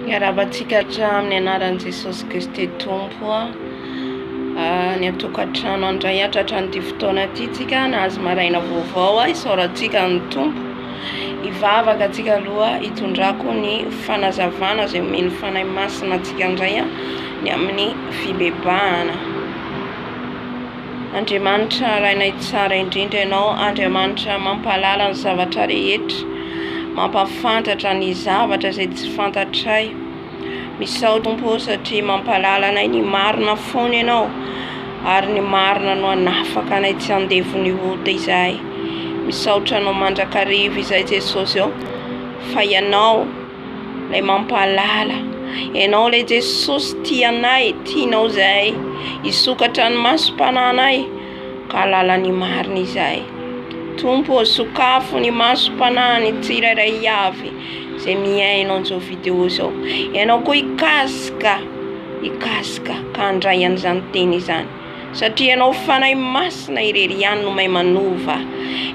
Miarabantsika hatramin'ny anaran'i Jesosy Kristy Tompo ah, ny an-tokantrano andray hatratra an'ity fotoana ity tsika nahazo maraina vaovao ah, isaorantsika ny Tompo hivavaka antsika aloha hitondrako ny fanazavana izay omen'ny fanahy masina antsika indray ah, ny amin'ny fibebahana. Andriamanitra Rainay Tsara indrindra Ianao Andriamanitra mampahalala ny zavatra rehetra mampafantatra ny zavatra izay tsy fantatray Misaotra Tompo ô satria mampahalala anay ny marina foana Ianao ary ny marina no hanafaka anay tsy handevon'ny ota izahay Misaotra Anao mandrakariva izay Jesosy ô fa Ianao Ilay mampahalala. Ianao ilay Jesosy tia anay, tianao izahay hisokatra ny masom-pananay ka halala ny marina izahay. Tompo ô, sokafo ny masom-panan'ny tsirairay avy izay mihaino an'izao video izao. Ianao koa hikasika, hikasika ka handray an'izany teny izany. Satria Ianao Fanahy Masina irery ihany no mahay manova.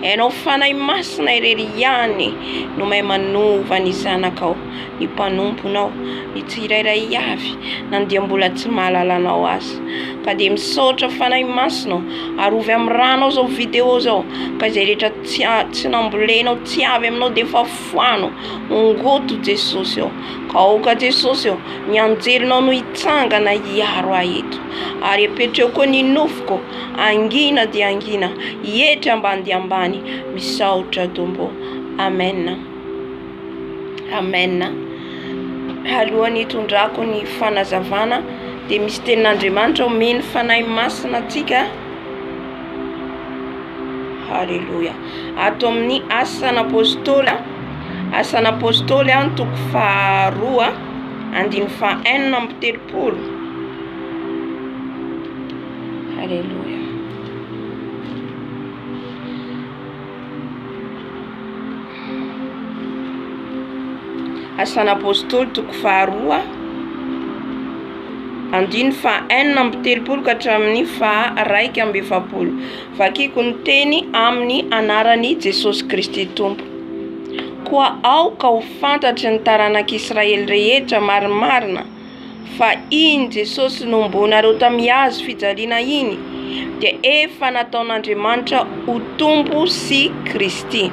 Ianao Fanahy Masina irery ihany no mahay manova ny zanakao, ny mpanomponao, ny tsirairay avy na dia mbola tsy mahalala Anao aza. Ka dia misaotra Fanahy Masina ô, arovy amin'ny ranao izao video izao, ka izay rehetra tsy tsy nambolenao, tsy avy aminao dia efa foano, ongoto Jesosy ô. Aoka Jesosy ô, ny anjelinao no hitsangana hiaro ahy eto, ary apetro eo koa ny nofoko, hangina dia hangina, hietry ambany dia ambany, misaotra Tompo ô. Amen. Amen. Alohan'ny hitondrako ny fanazavana dia misy tenin'Andriamanitra omen'ny Fanahy Masina antsika. Haleloia. Ato amin'ny Asan'Apôstôly Asan'Apôstôly an, toko faharoa andininy fahenina amby telopolo. Aleloia. Asan'Apôstôly toko faharoa andininy fahenina amby telopolo ka hatramin'ny faha raika amby efapolo. Vakiko ny teny amin'ny anaran'i Jesosy Kristy Tompo. Koa aoka ho fantatry ny taranak'Israely rehetra marimarina fa iny Jesosy nohomboanareo tamin'ny hazo fijaliana iny dia efa nataon'Andriamanitra ho Tompo sy Kristy.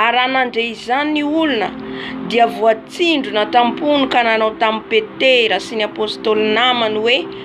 Ary raha nandre izany ny olona dia voatsindrona tam-pony ka nanao tamin'i Petera sy ny apostoly namany hoe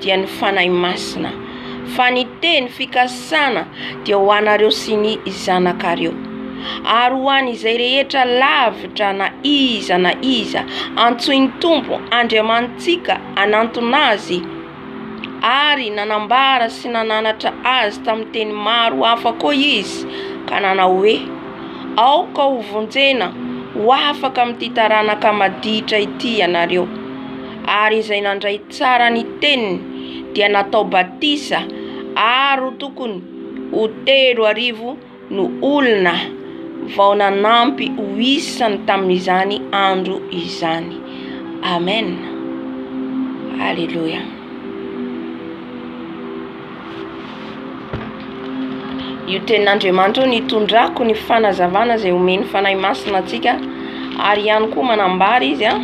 dia ny Fanahy Masina, fa ny teny fikasana dia ho anareo sy ny zanakareo, ary ho an' izay rehetra lavitra na iza na iza antsoin'ny Tompo Andriamanitsika hanantona Azy, ary nanambara sy nananatra Azy tamin'ny teny maro hafa koa Izy, ka nanao hoe, Aoka hovonjena ho afaka amin'ity taranaka maditra ity ianareo. ary izay nandray tsara ny teniny dia natao batisa ary tokony ho telo arivo no olona vao nanampy ho isany tamin'izany andro izany. Amen. Aleloia. Io tenin'Andriamanitra io nitondrako ny fanazavana izay omen'ny Fanahy Masina antsika ary ihany koa manambara izy a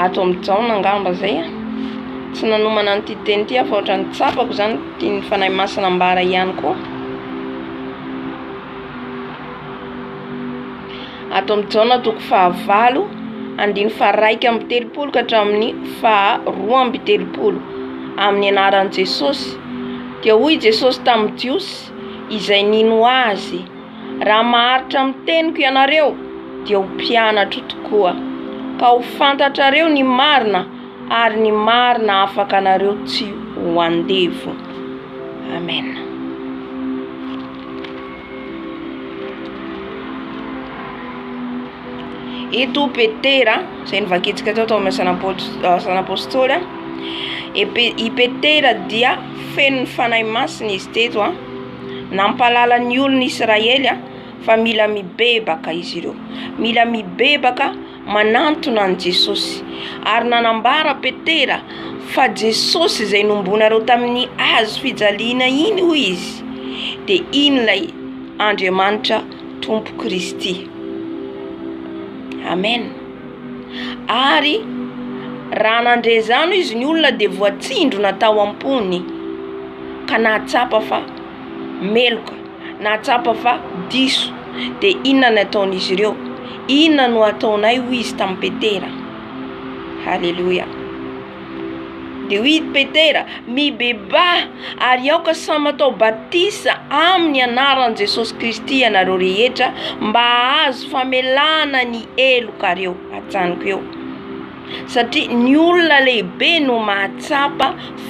ato amin'ny jaona angamba zay a tsy nanomana an'ity teny ity aho fa ohatra ny tsapako izany tian'ny Fanahy Masina ambara ihany koa Ato amin'i Jaona toko fahavalo, andininy faharaika amby telopolo ka hatramin'ny faharoa amby telopolo, amin'ny anaran'i Jesosy. Dia hoy i Jesosy tamin'ny Jiosy izay nino azy, Raha maharitra amin'ny teniko ianareo, dia ho mpianatro tokoa, ka ho fantatrareo ny marina, ary ny marina hafaka anareo tsy ho andevo. Amen. Eto Petera, izay nivakitsika tao tao amin'ny san'apôstôly. I Petera dia feno ny fanahy masina izy teto a. Nampahalala ny olon'Israely fa mila mibebaka izy ireo. Mila mibebaka. manantona an'i Jesosy, ary nanambara Petera fa Jesosy izay nombonareo tamin'ny hazo fijaliana iny hoy izy dia iny ilay Andriamanitra Tompo Kristy. Amen. Ary raha nandre izany izy ny olona dia voatsindrona tao am-pony ka nahatsapa fa meloka. Nahatsapa fa diso, dia inona ny ataon'izy ireo? Inona no ataonay hoy izy tamin'i Petera? Haleloia! Dia hoy Petera, mibebaha ary aoka samy atao batisa amin'ny anaran'i Jesosy Kristy ianareo rehetra mba hahazo famelana ny helokareo. Ajanoko eo. Satria ny olona lehibe no mahatsapa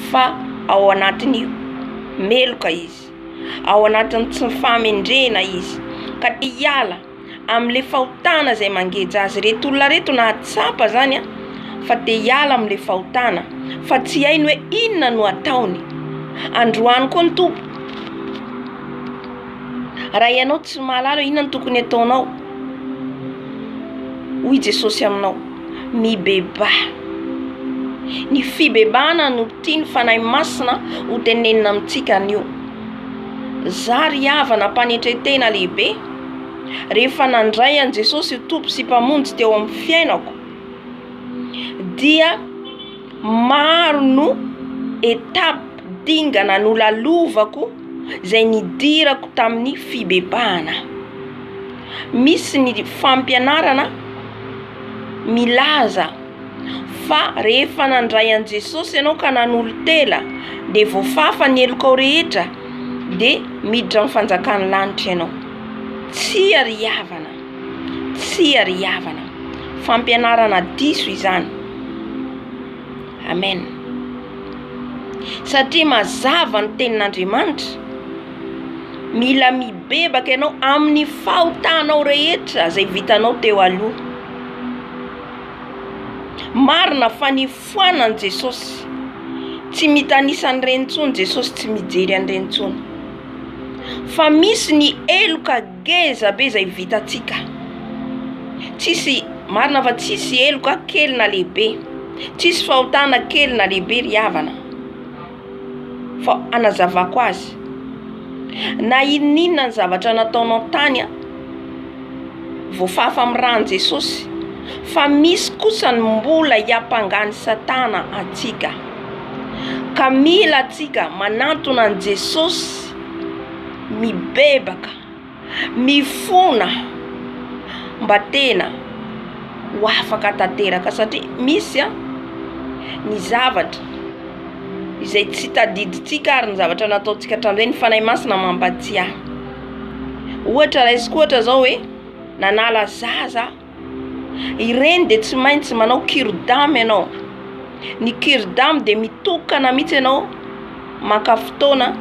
fa ao anatin'ny meloka izy. ao anatin'ny tsy fahamendrehana izy ka te hiala amin'le fahotana izay mangeja azy reto olona reto na tsapa zany a fa te hiala amin'le fahotana fa tsy hainy hoe inona no ataony androany koa ny tompo raha ianao tsy mahalala inona no tokony ataonao hoy Jesosy aminao mibebaha. Ny fibebahana no tian'ny Fanahy Masina ho tenenina amintsika anio. Zary havana am-panetren-tena lehibe rehefa nandray an'i Jesosy ho Tompo sy Mpamonjy teo amin'ny fiainako dia Maro no étape, dingana, nolalovako izay nidirako tamin'ny fibebahana. Misy ny fampianarana milaza fa rehefa nandray an'i Jesosy ianao ka nanolo-tena dia voafafa ny helokao rehetra dia miditra amin'ny fanjakan'ny lanitra ianao. Tsia ry havana. Tsia ry havana, fampianarana diso izany. Amen. Satria mazava ny tenin'Andriamanitra, mila mibebaka ianao amin'ny fahotanao rehetra izay vitanao teo aloha. Marina fa nifoanan'i Jesosy, tsy mitanisa an'ireny intsony Jesosy, tsy mijery an'ireny intsony. Fa misy ny heloka Ngeza be izay vitantsika. Tsisy marina fa tsisy heloka kely na lehibe, tsisy fahotana kely na lehibe ry havana fa anazavako azy na inon'inona ny zavatra nataonao tany a voafafa amin'ny ran'i Jesosy fa misy kosa ny mbola hiampangan'i Satana antsika ka mila antsika manantona an'i Jesosy. mibebaka, mifona mba tena ho afaka tanteraka satria misy an ny zavatra izay tsy tadidintsika ary ny zavatra nataontsika hatramin'izay ny Fanahy Masina mampahatsiahy, ohatra raisiko ohatra zao hoe nanala zaza aho. Ireny dia tsy maintsy manao cure-dame ianao. Ny cure-dame dia mitokana mihitsy ianao maka fotoana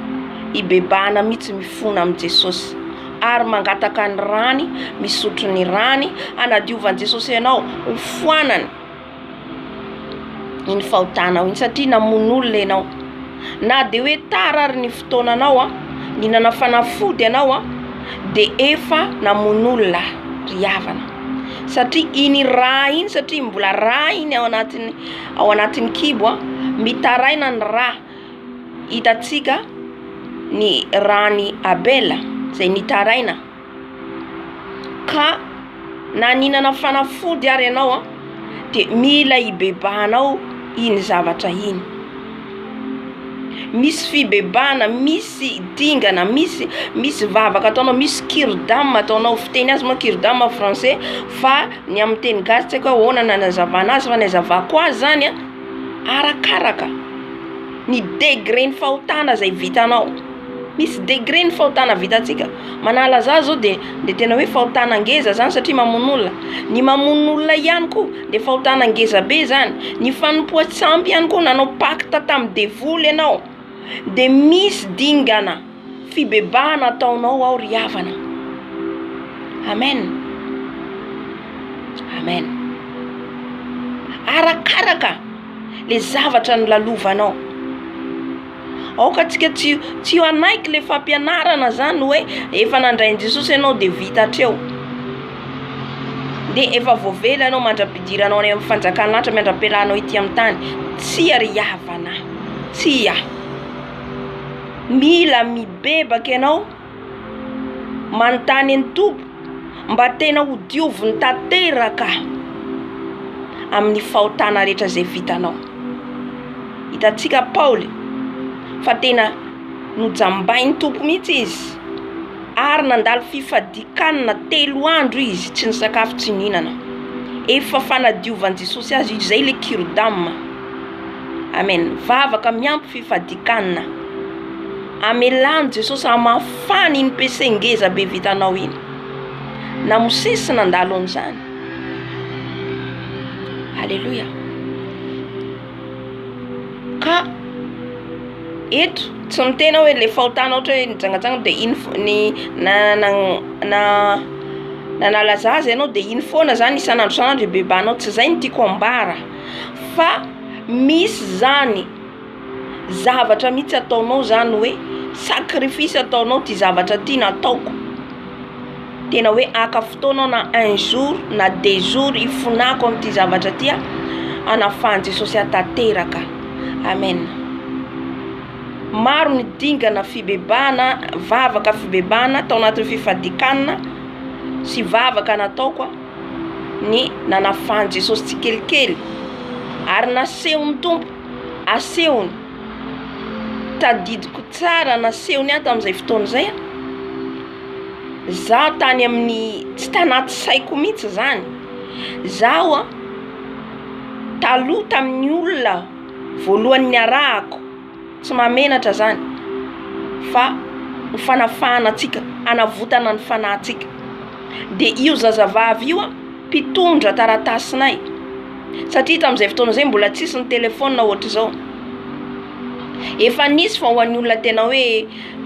hibebahana mihitsy mifona amin'i Jesosy ary mangataka ny rany, misotro ny rany hanadiovan-dJesosy anao, hofoanany. iny fahotanao iny satria namono olona ianao na dia hoe tara ary ny fotoananao a ny nanafanafody ianao a dia efa namono olona ry havana satria iny rà iny satria mbola rà iny ao anatin'ny ao anatin'ny kibo a mitaraina ny rà hitantsika ny ràn'i Abela izay nitaraina ka na nihinana fanafody ary ianao an de mila hibebahanao iny zavatra iny, misy fibebahana, misy dingana, misy misy vavaka ataonao, misy kiridama ataonao, fiteny azy moa kiridama français fa ny amin'ny teny gasy tsy aiko hoe ahoana ny anazavana azy fa ny azavako azy zany arakaraka ny degré ny fahotana izay vitanao. Misy degré ny fahotana vitantsika. Manala za zao dia dia tena hoe fahotana ngeza zany satria mamono olona. Ny mamono olona ihany koa dia fahotana ngeza be zany. Ny fanompoa tsy ampy ihany koa nanao pacte tamin'ny devoly ianao dia misy dingana fibebahana ataonao ao ry havana. Amen. Amen. Arakaraka le zavatra nolalovanao. Aoka antsika tsy tsy hanaiky le fampianarana zany hoe efa nandrain'i Jesosy ianao de vita hatreo. De efa voavela ianao mandra-pidiranao any amin'ny fanjakan'ny lanitra miandram-piarahanao ety amin'ny tany. Tsia ry havana. Tsia. Mila mibebaka ianao. manontany an'i Tompo mba tena ho dioviny tanteraka amin'ny fahotana rehetra izay vitanao. Hitantsika Paoly fa tena nojambain'i Tompo mihitsy izy ary nandalo fifadian-kanina telo andro izy tsy nisakafo tsy nihinana. Efa fanadiovan'i Jesosy azy io, izay ilay cure d'ame. Amen, vavaka miampy fifadian-kanina. Amelà an'i Jesosy hamafana iny PC ngeza be vitanao iny. Na Mosesy nandalo an'izany. Aleloia. Ka eto tsy miteny aho hoe le fahotanao ohatra hoe nijangajanga dia iny fo- ny na na na nanala zaza ianao dia iny foana zany isan'andro isan'andro ibebahanao tsy zay no tiako ambara fa misy zany. zavatra mihitsy ataonao zany hoe sacrifice ataonao ty zavatra ty na ataoko tena hoe aka fotoana aho na un jour na deux jours hifonako amin'ity zavatra ty aho hanafahan'i Jesosy ahy tanteraka amen maro ny dingana fibebahana vavaka fibebahana tao anatin'ny fifadikanana sy vavaka nataoko aho ny nanafahan'i Jesosy tsikelikely ary nasehon'ny Tompo asehony, tadidiko tsara nasehony ahy tamin'izay fotoana izay a, zaho tany amin'ny tsy tanaty saiko mihitsy izany, zaho a taloha tamin'ny olona voalohany niarahako, tsy mahamenatra zany fa ho fanafahana antsika, hanavotana ny fanahintsika, de io zazavavy io a mpitondra taratasinay. satria tamin'izay fotoana izay mbola tsisy ny telefaonina ohatr'izao, efa nisy fa ho an'ny olona tena hoe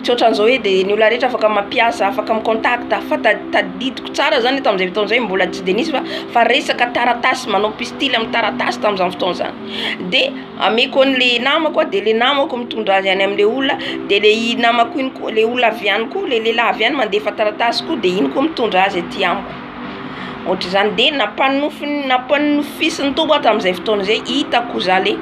tsy ohatran'izao hoe dia ny olona rehetra afaka mampiasa afaka mi-contact fa tadidiko tsara zany hoe tamin'izay fotoana izay mbola tsy dia nisy fa fa resaka taratasy manao pistily amin'ny taratasy tamin'izany fotoana izany, de ameko an'le namako a de le namako mitondra azy any am'le olona de le i namako iny koa le olona avy any koa le lehilahy avy any mandefa taratasy koa de iny koa mitondra azy aty amiko. Ohatr'izany dia nampanofin- nampanofisin'ny Tompo aho tamin'izay fotoana izay hitako zah le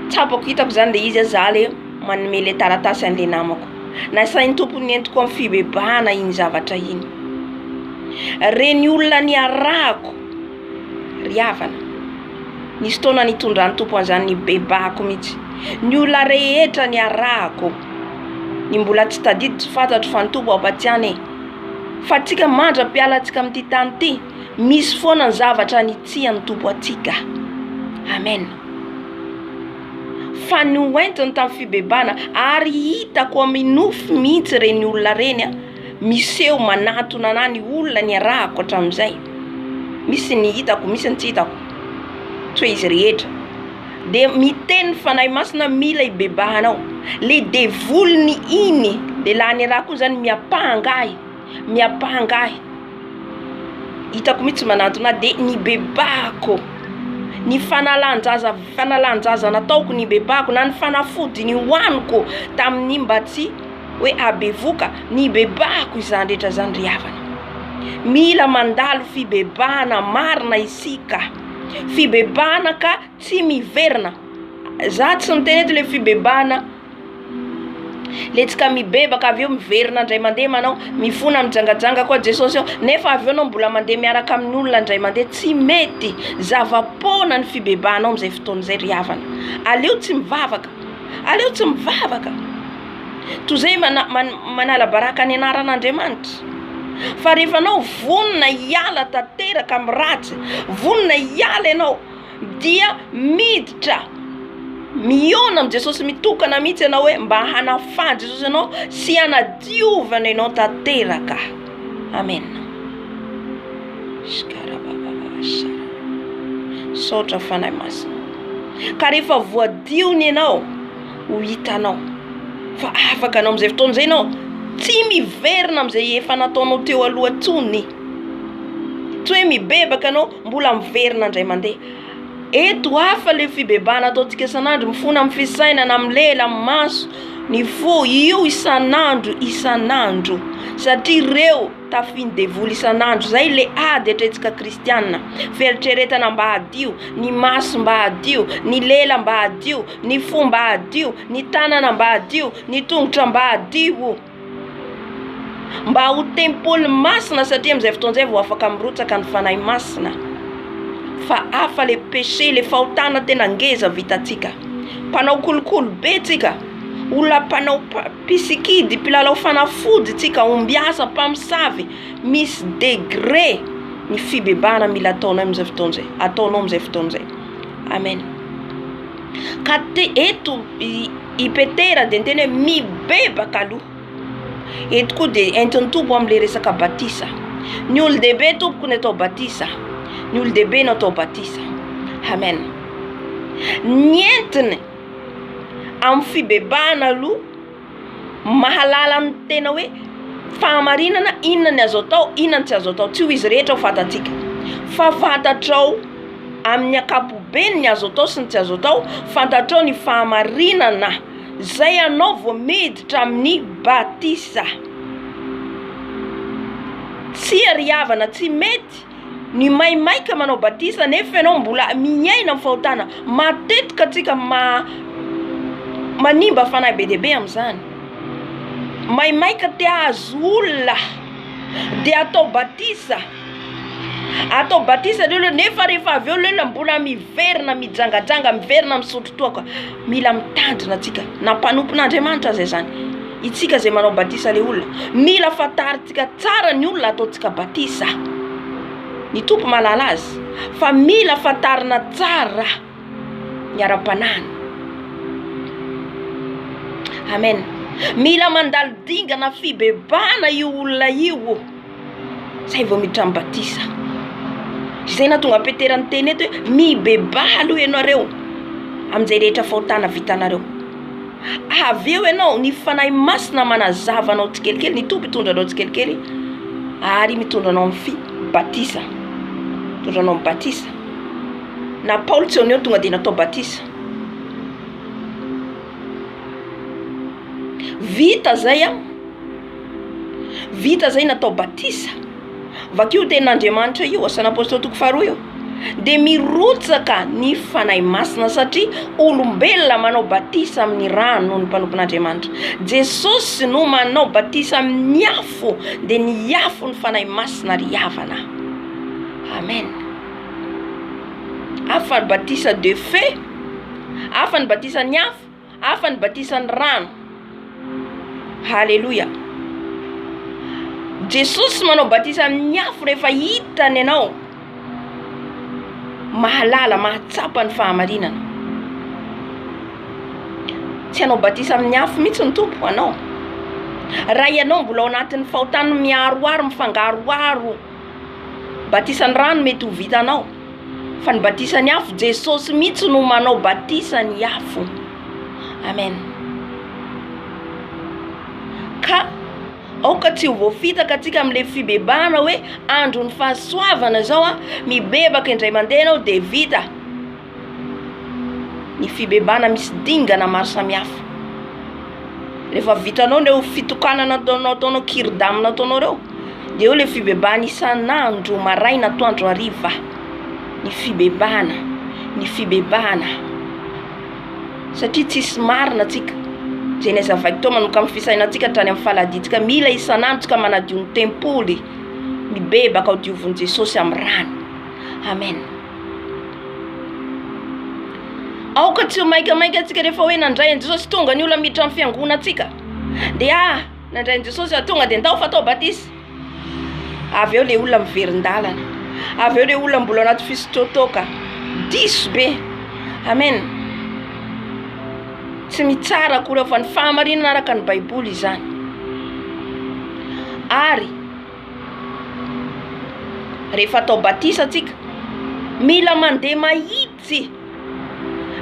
tsapako hitako zany le izy zah le manome le taratasy an'le namako. Nasain'ny Tompo nentiko amin'ny fibebahana iny zavatra iny. Reny olona niarahako ry havana, nisy fotoana nitondran'ny Tompo an'izany nibebahako mihitsy. Ny olona rehetra niarahako, ny mbola tsy tadidy tsy fantatro fa ny Tompo ampatsiahy anie. Fa antsika mandra-piala antsika amin'ity tany ity, misy foana ny zavatra nitsihan'ny Tompo antsika. Amen. Fa ny hoentiny tamin'ny fibebana, ary hitako amin'ny nofy mihitsy ireny olona ireny, miseho manatona anà ny olona niarahako hatramin'izay. Misy ny hitako, misy ny tsy hitako, tsy hoe izy rehetra. de miteny ny fanahy masina mila ibebahana ao le devoly ny iny de la ny raha koa zany miapahangahy miapahangahy hitako mitsy manantona ahy de ny bebahako ny fanalanjaza fanalanjaza nataoko ny bebahako na ny fanafody ny hoaniko tamin'ny mba tsy hoe abevoka ny bebahako izany rehetra zany ry havana mila mandalo fibebahana marina isika fibebahana ka tsy miverina za tsy miteny eto le fibebahana letsika mibebaka avy eo miverina ndray mande manao mifona mijangajanga ko Jesosy ao nefa avy eo anao mbola mande miaraka amin'ny olona ndray mande tsy mety zava poana ny fibebahanao amizay fotoana zay ry havana aleo tsy mivavaka aleo tsy mivavaka Toy izay manala baraka ny anaran'Andriamanitra. Fa rehefa anao vonona hiala tanteraka amin'ny ratsy, vonona hiala ianao, dia miditra, mihaona amin'i Jesosy mitokana mihitsy ianao hoe mba hanafahan'i Jesosy anao sy hanadiovany anao tanteraka. Amena. Misaotra Fanahy Masina. Ka rehefa voadio ny anao. Ho hitanao fa afaka anao amin'izay fotoana izay ianao. Tsy miverina amin'izay efa nataonao teo aloha intsony. Tsy hoe mibebaka ianao, mbola miverina indray mandeha. Eto hafa ilay fibebahana ataontsika isan'andro, mifona amin'ny fisainana, amin'ny lela, amin'ny maso, ny fo, io isan'andro isan'andro satria ireo. Tafian'ny devoly isan'andro izay le ady atretsika kristianina. Fieritreretana mba hadio, ny maso mba hadio, ny lela mba hadio, ny fo mba hadio, ny tanana mba hadio, ny tongotra mba hadio. Mba ho tempoly masina satria amin'izay fotoana izay vao afaka mirotsaka ny Fanahy Masina. Fa hafa le péché, le fahotana tena ngeza vitantsika. Mpanao kolikoly be tsika, olona mpanao Mpisikidy, mpilalao fanafody tsy kahombiasa, mpamosavy, misy degré ny fibebahana mila ataonay amin'izay fotoana izay, ataonao amin'izay fotoana izay. Amen. Ka te, eto i, i Petera dia niteny hoe mibebaka aloha. Eto koa dia entin'ny Tompo amin'ilay resaka batisa. Ny olon-dehibe tompoko ny atao batisa. Ny olon-dehibe no atao batisa. Amen. Ny entiny. amin'ny fibebahana aloha mahalala ny tena hoe fahamarinana inona ny azo atao inona ny tsy azo atao tsy ho izy rehetra ho fantatsika fa fantatrao amin'ny ankapobeny ny azo atao sy ny tsy azo atao fantatrao ny fahamarinana zay anao vao miditra amin'ny batisa tsia ry havana tsy mety ny maimaika manao batisa nefa ianao mbola miaina ny fahotana matetika tsika ma manimba fanahy be dia be amizany maimaika te ahazo olona de atao batisa atao batisa le olona nefa refa aveo le olona mbola miverina mijangajanga miverina misotro toaka mila mitandrina tsika na mpanompona Andriamanitra aza izany itsika ze manao batisa le olona mila fantarina. Tsika tsara ny olona ataontsika batisa. Ny Tompo mahalala azy. Fa mila fantarina tsara ny ara-panahiny. Amen. Mila mandalo dingana fibebahana io olona io o. Zay vao miditra amin'ny batisa. Izay nahatonga Petera niteny eto hoe mibebaha aloha ianareo amin'izay rehetra fahotana vitanareo. avy eo ianao ny fanahy masina manazava anao tsikelikely ny tompo hitondra anao tsikelikely ary mitondra anao amin'ny fi batisa mitondra anao amin'ny batisa na paoly tsy oneo tonga dia natao batisa vita zay a Vita zay natao batisa. Vakio tenin' Andriamanitra io, Asan' Apôstôly toko faharoa io. Dia mirotsaka ny Fanahy Masina satria olombelona manao batisa amin' ny rano noho ny mpanompon' Andriamanitra. Jesosy no manao batisa amin' ny afo, dia ny afo ny Fanahy Masina ry havana. Amen. Hafa ny batisa de feu, hafa ny batisan' ny afo. Hafa ny batisan'ny rano. Haleloia. Jesosy manao batisa amin'ny afo rehefa hitany ianao mahalala, mahatsapa ny fahamarinana. Tsy hanao batisa amin'ny afo mihitsy ny Tompo anao. Raha ianao mbola ao anatin'ny fahotany miaroaro, mifangaroaro, batisan'ny rano mety ho vitanao fa ny batisan'ny afo jesosy mihitsy no manao batisan'ny afo amen ka aoka tsy ho voafitaka atsika amle fibebahana hoe andron'ny fahasoavana zao a mibebaka indray mandeha anao de vita ny fibebahana misy dingana maro samihafa, rehefa vitanao ireo fitokanana ataonao ataonao kiridam ataonao ireo de eo ilay fibebahana isan'andro maraina atoandro hariva ny fibebahana ny fibebahana satria tsisy marina tsika zay na aiza vaikitoa manokan'ny fisainantsika hatrany amin'ny faladintsika mila isan'andro tsika manadio ny tempoly mibebaka ho dioviny Jesosy amin'ny rany Amen. Aoka tsy ho maikamaika antsika rehefa hoe nandray an'i Jesosy tonga ny olona miditra amin'ny fiangonantsika. Dia ah, nandray an'i Jesosy aho tonga dia ndao fa atao batisa. Avy eo le olona miverin-dalana. Avy eo le olona mbola anaty fisotrotoka. Diso be. Amen. Tsy mitsara akory aho fa ny fahamarinana araka ny Baiboly izany. Ary Rehefa atao batisa antsika, mila mandeha mahitsy.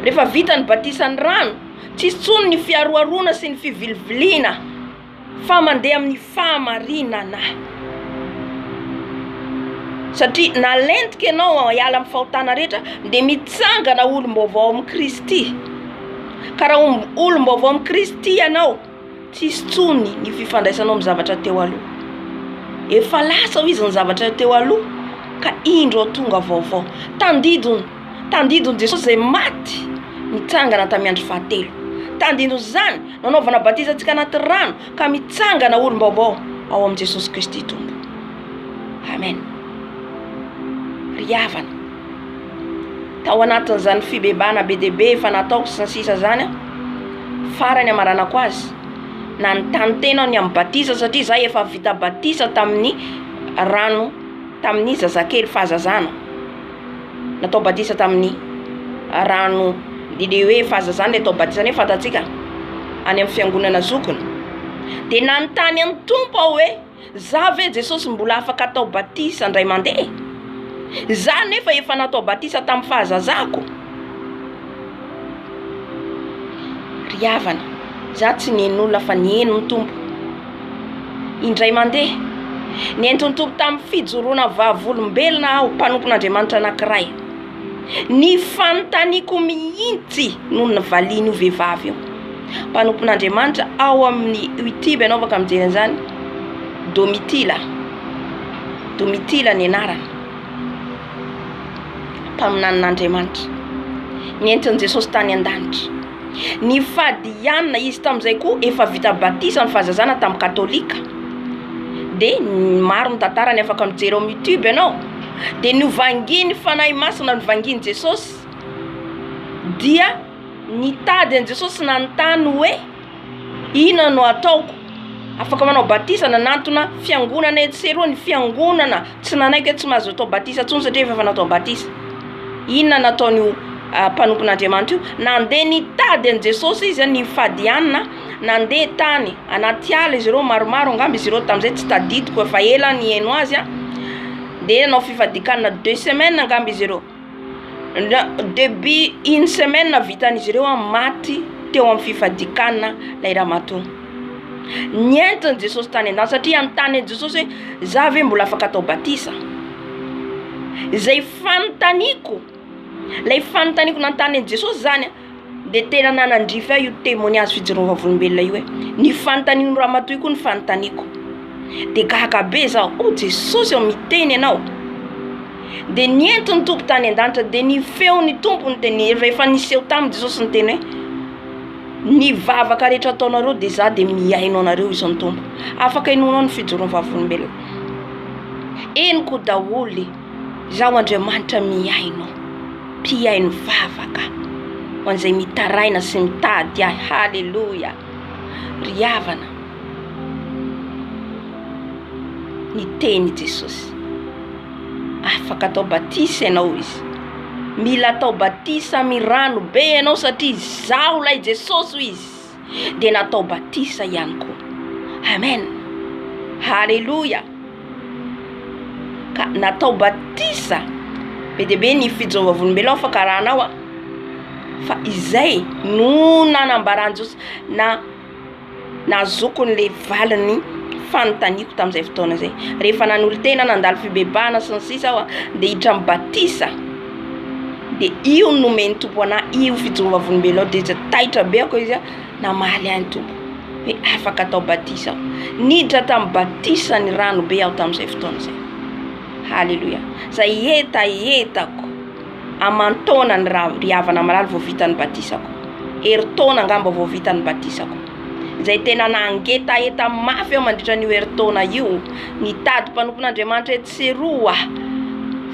Rehefa vita ny batisa ny rano, tsy hisy intsony ny fiharoharoana sy ny fiviliviliana fa mandeha amin'ny fahamarinana. Satria na lentika ianao hiala amin'ny fahotana rehetra dia mitsangana olom-baovao amin'i Kristy. Ka raha olom-baovao amin'i Kristy ianao. Tsisy tsony ny fifandraisanao amin'ny zavatra teo aloha. Efa lasa hoy izy ny zavatra teo aloha ka indro ao tonga vaovao. Tandindon, tandindon'i Jesosy izay maty nitsangana tamin'ny andro fahatelo. Tandindon'izany nanaovana batisa antsika anaty rano ka mitsangana ho olom-baovao ao amin'i Jesosy Kristy Tompo. Amen. Ry havana. tao anatin'izany fibebana be dia be efa nataoko sy ny sisa izany aho, farany hamaranako azy, nanontany tena aho ny amin'ny batisa satria izaho efa vita batisa tamin'ny rano tamin'ny zazakely fahazazana, natao batisa tamin'ny rano ilay hoe fahazazana ilay atao batisa nefa fantatsika any amin'ny fiangonana zokiny, dia nanontany an'i Tompo aho hoe. Za ve Jesosy mbola afaka atao batisa ndray mandeha? Za nefa efa natao batisa tam fahazazako? Ry havana, za tsy nihen'olona fa niheno ny Tompo indray mandeha. Nentin'ny Tompo tam fijoroana vavolombelona aho, mpanompon'Andriamanitra anakiray. Ny fanontaniako mihitsy no nivalian'io vehivavy io. Mpanompon'Andriamanitra ao amin'ny Youtube ianao afaka mijery an'izany, Domitila, Domitila ny anarany, mpaminanin'Andriamanitra, nentin'i Jesosy tany an-danitra. Ny fadiana izy tamin'izay koa efa vita batisa ny fahazazana tamin'ny katolika de maro ny tantarany afaka mijery ao youtube ianao de novangian'ny fanahy masina novangian'i Jesosy dia nitady an'i Jesosy nanontany hoe inona no ataoko afaka manao batisa nanantona fiangonana etsy sy eroa ny fiangonana Tsy nanaiky hoe tsy mahazo atao batisa intsony satria efa fanatao batisa. Inona nataon'io mpanompon'Andriamanitra io? Nandeha nitady an'i Jesosy izy, nifady hanina, nandeha tany anaty ala izy ireo, maromaro angamba izy ireo tamin'izay, tsy tadidiko, efa ela aho nihaino azy, dia nanao fifadian-kanina deux semaines angamba izy ireo. Debut une semaine vitan'izy ireo an maty teo amin'ny fifadikanana ilay ramatoa. Ny entin'i Jesosy tany an-danitra satria hanontany an'i Jesosy hoe za ve mbola afaka atao batisa? Izay fanontaniako, ilay fanontaniako nanontany an'i Jesosy zany an. Dia tena nanandrify ahy io témoignage fijoroan'ny vavolombelona io e! Ny fanontanian'io ramatoa io koa no fanontaniako, dia gaga be zaho, oh Jesosy ô miteny ianao, dia nientiny ny Tompo tany an-danitra, dia ny feon'ny Tompo no tene, rehefa niseho taminy Jesosy niteny hoe, ny vavaka rehetra ataonareo dia za dia mihaino anareo hoy izy ny Tompo, afaka inoanao ny fijoroan'ny vavolombelona, henoko daholo e! Izaho Andriamanitra mihaino, mpihaino vavaka, ho an'izay mitaraina sy mitady Ahy. Haleloia! Ry havana, niteny i Jesosy, afaka atao batisa ianao izy, mila atao batisa amin'ny rano be ianao satria Izaho ilay Jesosy, hoy Izy. Kristy dia natao batisa ihany koa. Amen. Haleloia. Ka natao batisa be dia be ny fidin'ny vavolombelona ao fakarana ao a. Fa izay no nanambaran'i Jesosy na nahazoako an'ilay valin'ny fanontaniako tamin'izay fotoana izay. Rehefa nanolo-tena nandalo fibebahana sy ny sisa aho dia hiditra amin'ny batisa. dia io no nomen'ny tompo anah io fijoroa vavolombelona io dia taitra be aho koa izy a namaly ahy ny tompo hoe afaka atao batisa aho niditra tamin'ny batisa ny rano be aho tamin'izay fotoana izay haleloia izay hetahetako aman-taona ny ra ry havana malala vao vita ny batisako herintaona angamba vao vita ny batisako izay tena nangetaheta mafy aho mandritra an'io herintaona io nitady mpanompon'andriamanitra etsy Seroa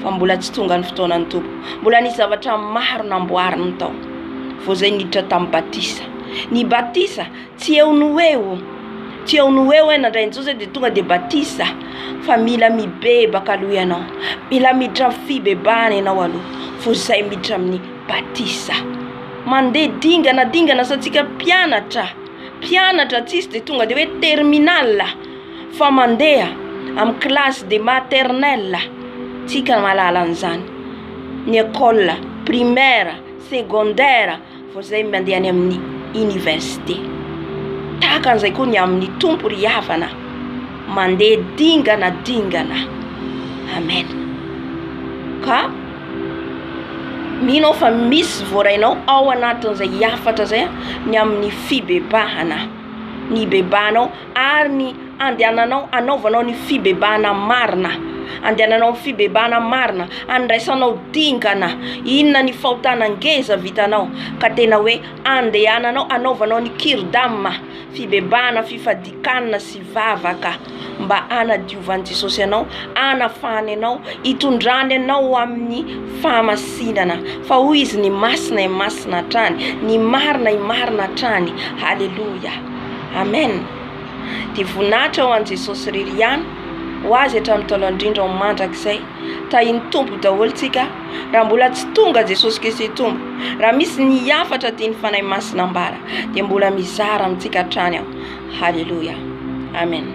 fa mbola tsy tonga ny fotoanan'ny Tompo. Mbola nisy zavatra maro namboariny tao vao izay niditra tamin'ny batisa. Ny batisa tsy eo no ho eo, tsy eo no ho eo hoe nandray an'i Jesosy dia tonga dia batisa fa mila mibebaka aloha ianao, mila miditra amin'ny fibebahana ianao aloha vao izay miditra amin'ny batisa. Mandeha dingana dingana sa tsika mpianatra, mpianatra tsisy dia tonga dia hoe terminal. fa mandeha amin'ny classe de maternelle tsika mahalala an'izany ny école primaire, secondaire vao izay mandeha any amin'ny université, tahaka an'izay koa ny amin'ny Tompo ry havana mandeha dingana dingana Amen ka mino aho fa misy voarainao ao anatin'izay hafatra izay ny amin'ny fibebahana, nibebahanao. ary ny andehananao anaovanao ny fibebahana marina, andehananao amin'ny fibebahana marina, andraisanao dingana inona ny fahotana ngeza vitanao ka tena hoe andehananao anaovanao ny kirdama, fibebahana, fifadian-kanina sy vavaka mba hanadiovan'i Jesosy anao, hanafahany anao, hitondrany anao ho amin'ny fahamasinana, fa hoy Izy ny masina, i masina hatrany, ny marina, i marina hatrany, haleloia. Amen Dia voninahitra ho an'i Jesosy irery ihany ho Azy hatramin'ny ntaolo indrindra ho mandrakizay Tahin'ny Tompo daholo tsika Raha mbola tsy tonga Jesosy Kristy Tompo Raha misy ny hafatra tian'ny Fanahy Masina ambara Dia mbola mizara amintsika hatrany aho Haleloia Amen.